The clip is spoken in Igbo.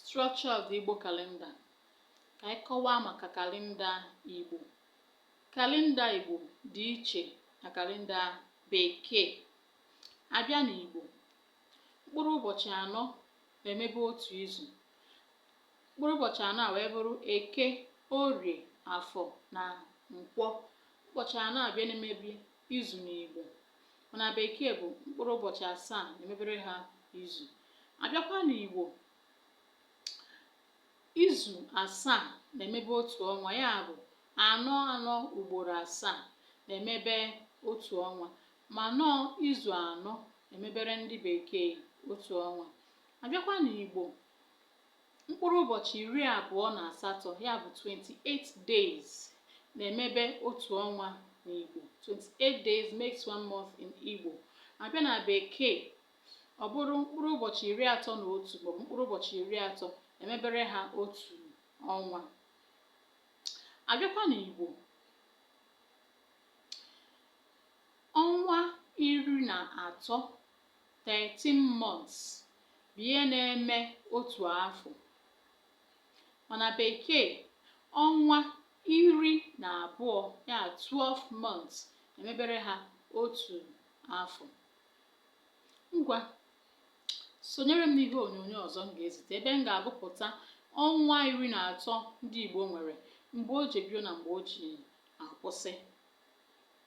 Structure of the Igbo calendar. Ka anyị kọwaa maka kalenda Igbo. Kalenda Igbo dị iche na kalenda Bekee. Abịa n'Igbo, mkpụrụ ụbọchị anọ na-emebe otu izu. Mkpụrụ ụbọchị anọ a wee bụrụ Eke, Orie, Afọ na Nkwọ. Ụbọchị anọ a bụ ya na-emebe izu n'Igbo. mana bekee bụ mkpụrụ ụbọchị asaa na-emebere ha izu abịakwa n'igbo izu asaa na-emebe otu ọnwa ya bụ anọ anọ ugboro asaa na-emebe otu ọnwa mana ọọ izu anọ na-emebere ndị bekee otu ọnwa abịakwa n'igbo Mkpụrụ ụbọchị iri abụọ na asatọ ya bụ 28 days na-emebe otu ọnwa n'Igbo. 28 days makes one month in Igbo. Abịa na Bekee, ọ bụrụ mkpụrụ ụbọchị iri atọ na otu maọbụ mkpụrụ ụbọchị iri atọ na-emebere ha otu ọnwa. Abịakwa n'Igbo, ọnwa iri na atọ 13 months bụ ihe na-eme otu afọ mana bekee ọnwa iri na abụọ ya 12 months emebere ha otu afọ ngwa sonyere m n'ihe onyonyo ọzọ m ga-ezite ebe m ga-agụpụta ọnwa iri na atọ ndị Igbo nwere mgbe o ji ebido na mgbe o ji akwụsị